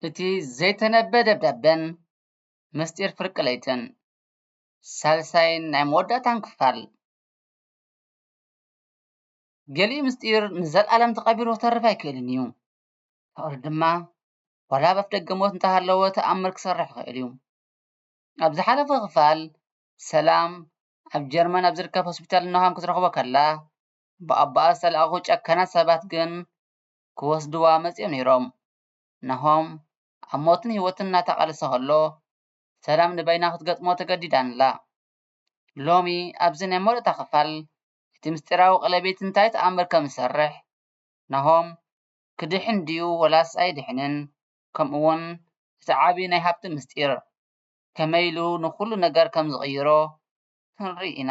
እቲ ዘይተነበ ደብዳበን ምስጢር ፍርቂ ለይትን ሳልሳይን ናይ መወዳእታን ክፋል ገሊኡ ምስጢር ንዘልኣለም ተቐቢሩ ክተርፍ ኣይክእልን እዩ። ፍቕሪ ድማ ዋላ ኣብ ኣፍደገ ሞት እንተሃለወ ተኣምር ክሰርሕ ይኽእል እዩ። ኣብ ዝሓለፈ ክፋል ሰላም ኣብ ጀርመን ኣብ ዝርከብ ሆስፒታል ኖሃም ክትረኽቦ ከላ ብኣቦኣ ዝተላእኹ ጨካናት ሰባት ግን ክወስድዋ መጽዮም ነይሮም። ናሆም ኣብ ሞትን ህይወትን እናተቓለሰ ከሎ፣ ሰላም ንበይና ክትገጥሞ ተገዲዳ ኣላ። ሎሚ ኣብዚ ናይ መወዳእታ ክፋል፣ እቲ ምስጢራዊ ቀለቤት እንታይ ተኣምር ከም ዝሰርሕ፣ ናሆም ክድሕን ድዩ ወላስ ኣይድሕንን፣ ከምኡ'ውን እቲ ዓቢ ናይ ሃብቲ ምስጢር ከመይ ኢሉ ንኹሉ ነገር ከም ዝቕይሮ ክንርኢ ኢና።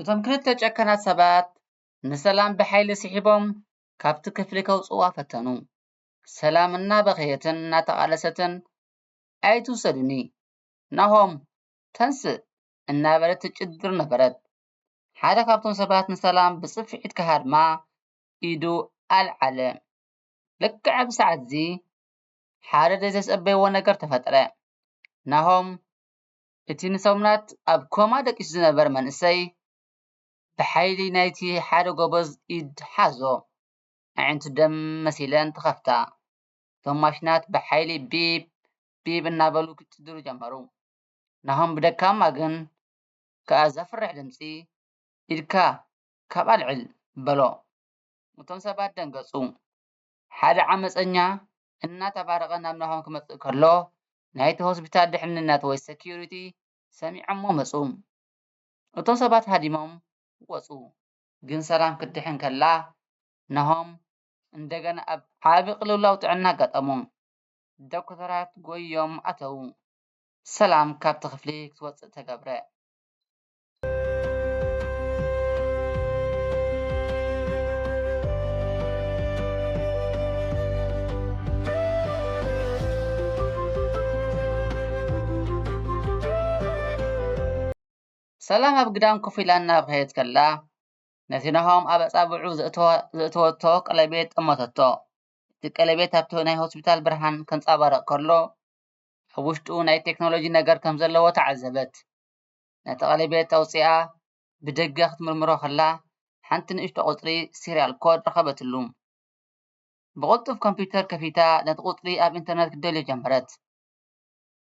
እቶም ክልተ ጨከናት ሰባት ንሰላም ብሓይሊ ስሒቦም ካብቲ ክፍሊ ከውፅዋ ፈተኑ። ሰላም እናበኸየትን እናተቓለሰትን ኣይትውሰዱኒ ናሆም ተንስእ እናበለት ትጭድር ነበረት። ሓደ ካብቶም ሰባት ንሰላም ብጽፍዒት ክሃድማ ኢዱ ኣልዓለ። ልክዕ ኣብዚ ሰዓት'ዚ ሓደ ዘይተጸበይዎ ነገር ተፈጥረ። ናሆም እቲ ንሰሙናት ኣብ ኮማ ደቂሱ ዝነበረ መንእሰይ ብሓይሊ ናይቲ ሓደ ጎበዝ ኢድ ሓዞ። ኣዒንቱ ደም መሲለን ተኸፍታ። እቶም ማሽናት ብሓይሊ ቢፕ ቢፕ እናበሉ ክጭድሩ ጀመሩ። ናሆም ብደካማ ግን ከኣ ዘፍርሕ ድምጺ ኢድካ ካብ ኣልዕል በሎ። እቶም ሰባት ደንገጹ። ሓደ ዓመጸኛ እናተባረቐ ናብ ናሆም ክመጽእ ከሎ ናይቲ ሆስፒታል ድሕንነት ወይ ሰክዩሪቲ ሰሚዖሞ መጹ። እቶም ሰባት ሃዲሞም ወጹ። ግን ሰላም ክትድሕን ከላ ናሆም እንደገና ኣብ ዓቢ ቅልውላው ጥዕና ኣጋጠሞ። ዶክተራት ጎይዮም ኣተዉ። ሰላም ካብቲ ክፍሊ ክትወጽእ ተገብረ። ሰላም ኣብ ግዳም ኮፍ ኢላ እናብኸየት ከላ ነቲ ናሆም ኣብ ኣጻብዑ ዘእተወቶ ቀለቤት ጠመተቶ። እቲ ቀለቤት ኣብቲ ናይ ሆስፒታል ብርሃን ከንጻባርቕ ከሎ ኣብ ውሽጡ ናይ ቴክኖሎጂ ነገር ከም ዘለዎ ተዓዘበት። ነቲ ቀለቤት ኣውጺኣ ብደገ ክትምርምሮ ከላ ሓንቲ ንእሽቶ ቁጽሪ ሲርያል ኮድ ረኸበትሉ። ብቕልጡፍ ኮምፕዩተር ከፊታ ነቲ ቁጽሪ ኣብ ኢንተርነት ክትደልዮ ጀመረት።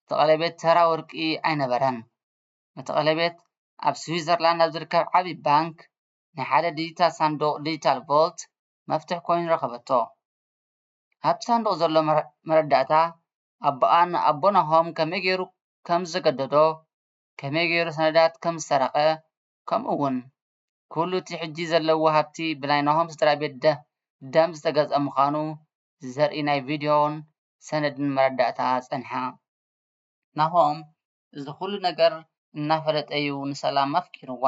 እቲ ቀለቤት ተራ ወርቂ ኣይነበረን። እቲ ቀለቤት ኣብ ስዊዘርላንድ ኣብ ዝርከብ ዓቢ ባንክ ናይ ሓደ ዲጂታል ሳንዱቕ፣ ዲጂታል ቮልት፣ መፍትሕ ኮይኑ ረኸበቶ። ኣብቲ ሳንዱቕ ዘሎ መረዳእታ ኣቦኣን ኣቦ ናሆም ከመይ ገይሩ ከም ዘገደዶ፣ ከመይ ገይሩ ሰነዳት ከም ዝሰረቐ፣ ከምኡ'ውን ኩሉ እቲ ሕጂ ዘለዎ ሃብቲ ብናይ ናሆም ስድራቤት ደም ዝተገዝኣ ምዃኑ ዘርኢ ናይ ቪድዮን ሰነድን መረዳእታ ጸንሓ። ናሆም እዚ ኩሉ ነገር እናፈለጠ'ዩ ንሰላም ኣፍቂርዋ።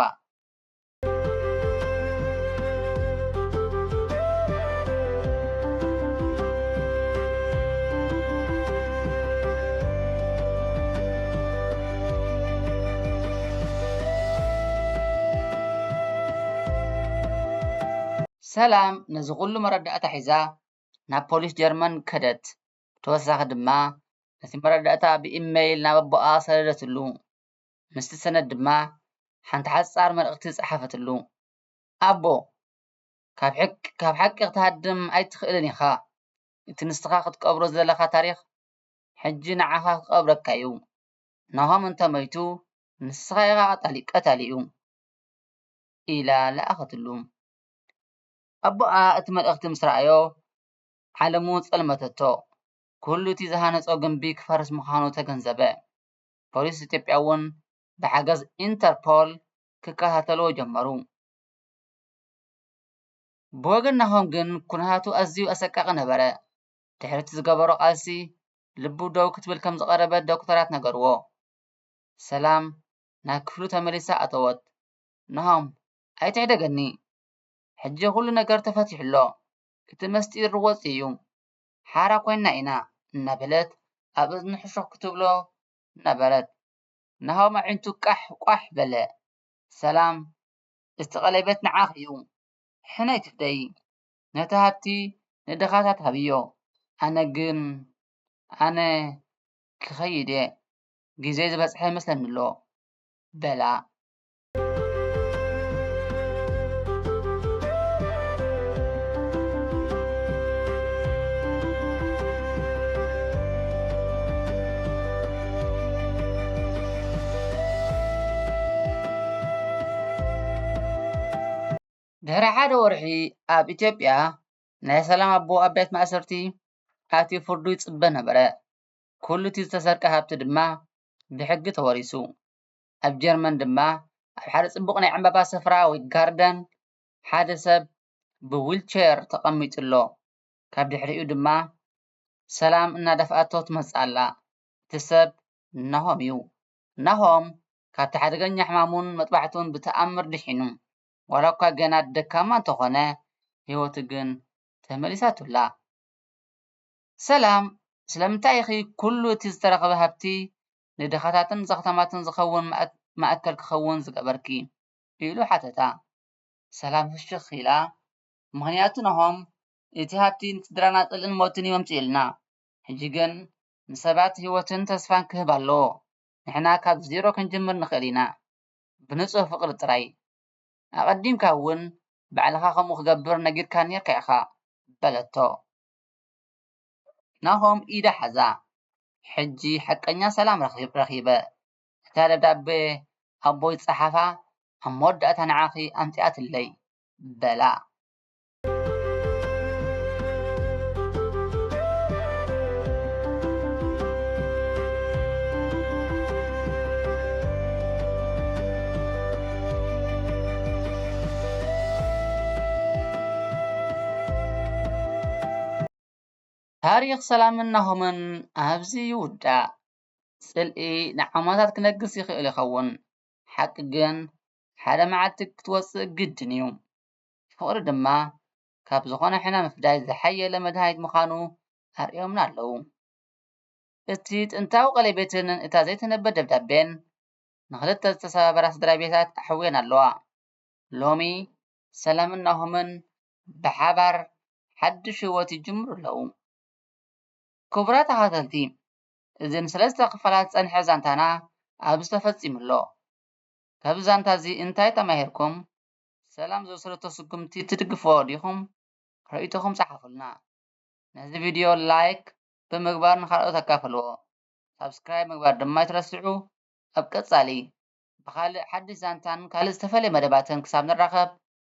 ሰላም ነዚ ዅሉ መረዳእታ ሒዛ ናብ ፖሊስ ጀርመን ከደት፣ ብተወሳኺ ድማ ነቲ መረዳእታ ብኢመይል ናብ ኣቦኣ ሰደደትሉ። ምስቲ ሰነድ ድማ ሓንቲ ሓጻር መልእኽቲ ጸሓፈትሉ። ኣቦ! ካብ ሓቂ ክትሃድም ኣይትኽእልን ኢኻ። እቲ ንስኻ ክትቀብሮ ዝደለኻ ታሪኽ ሕጂ ንዓኻ ክቐብረካ'ዩ። ናሆም እንተ ሞይቱ ንስኻ ኢኻ ቀታሊኡ። ኢላ ለኣኸትሉ። ኣቦኣ እቲ መልእኽቲ ምስ ረኣዮ ዓለሙ ጸልመተቶ። ኩሉ'ቲ ዝሃነጾ ግምቢ ክፈርስ ምዃኑ ተገንዘበ። ፖሊስ ኢትዮጵያ'ውን ብሓገዝ ኢንተርፖል ክከታተልዎ ጀመሩ። ብወገን ናሆም ግን ኩነታቱ ኣዝዩ ኣሰቃቒ ነበረ። ድሕሪ'ቲ ዝገበሮ ቃልሲ ልቡ ደው ክትብል ከም ዝቐረበት ዶክተራት ነገርዎ። ሰላም ናብ ክፍሉ ተመሊሳ ኣተወት። ናሆም፣ ኣይትሕደገኒ። ሕጂ ኩሉ ነገር ተፈቲሑ ኣሎ። እቲ መስጢር ወጺኡ'ዩ። ሓራ ኮይንና ኢና እናበለት ኣብ እዝኑ ሕሹኽ ክትብሎ ነበረት። ናሆም ኣዒንቱ ቃሕ ቋሕ በለ። ሰላም እቲ ቀሌበት ንዓኺ እዩ። ሕነ ኣይትፍደዪ። ነቲ ሃብቲ ንድኻታት ሃብዮ። ኣነ ግን ኣነ ክኸይድ እየ። ግዜይ ዝበጽሐ ይመስለኒ ኣሎ በላ። ድሕሪ ሓደ ወርሒ ኣብ ኢትዮጵያ ናይ ሰላም ኣቦ ኣብ ቤት ማእሰርቲ ኣትዩ ፍርዱ ይፅበ ነበረ። ኩሉ እቲ ዝተሰርቀ ሃብቲ ድማ ብሕጊ ተወሪሱ። ኣብ ጀርመን ድማ ኣብ ሓደ ጽቡቕ ናይ ዕምባባ ስፍራ ወይ ጋርደን ሓደ ሰብ ብዊልቸር ተቐሚጡ ኣሎ። ካብ ድሕሪኡ ድማ ሰላም እናደፍኣቶ ትመጽእ ኣላ። እቲ ሰብ ናሆም እዩ። ናሆም ካብቲ ሓደገኛ ሕማሙን መጥባሕቱን ብተኣምር ድሒኑ። ዋላ እኳ ገና ደካማ እንተኾነ ህይወቱ ግን ተመሊሳቱ ኣላ። ሰላም፣ ስለምንታይ ኢኺ ኩሉ እቲ ዝተረኽበ ሃብቲ ንድኻታትን ዘኽታማትን ዝኸውን ማእከል ክኸውን ዝገበርኪ? ኢሉ ሓተታ። ሰላም ፍሽኽ ኢላ፣ ምኽንያቱ ናሆም፣ እቲ ሃብቲ ንስድራና ጽልእን ሞትን እዩ ኣምጺኡልና። ሕጂ ግን ንሰባት ህይወትን ተስፋን ክህብ ኣለዎ። ንሕና ካብ ዜሮ ክንጅምር ንኽእል ኢና፣ ብንጹህ ፍቕሪ ጥራይ። ኣቐዲምካ እውን ባዕልኻ ከምኡ ክገብር ነጊርካኒ ነይርካ ኢኻ። በለቶ። ናሆም ኢዳ ሓዛ። ሕጂ ሓቀኛ ሰላም ረኺበ። እታ ደብዳቤ ኣቦይ ዝጸሓፋ ኣብ መወዳእታ ንዓኺ ኣምጺኣትለይ፣ በላ። ታሪኽ ሰላምን ናሆምን ኣብዚ ይውዳእ። ጽልኢ ንዓመታት ክነግስ ይኽእል ይኸውን ሓቂ ግን ሓደ መዓልቲ ክትወጽእ ግድን እዩ። ፍቕሪ ድማ ካብ ዝኾነ ሕነ ምፍዳይ ዝሓየለ መድሃኒት ምዃኑ ኣርእዮምና ኣለዉ። እቲ ጥንታዊ ቀሌቤትን እታ ዘይትነብር ደብዳቤን ንኽልተ ዝተሰባበራ ስድራቤታት ኣሕውየን ኣለዋ። ሎሚ ሰላምን ናሆምን ብሓባር ሓዱሽ ሂወት ይጅምሩ ኣለዉ። ክቡራት ተኸታተልቲ እዚ ንሰለስተ ክፋላት ዝጸንሐ ዛንታና ኣብዚ ተፈጺሙ ኣሎ። ካብዚ ዛንታ እዚ እንታይ ተማሂርኩም? ሰላም ዝወሰደቶ ስጉምቲ ትድግፍዎ ዲኹም? ርእይቶኹም ጸሓፉልና። ነዚ ቪድዮ ላይክ ብምግባር ንኻልኦት ኣካፍልዎ። ሳብስክራይብ ምግባር ድማ ኣይትረስዑ። ኣብ ቀጻሊ ብኻልእ ሓድሽ ዛንታን ካልእ ዝተፈልየ መደባትን ክሳብ ንራኸብ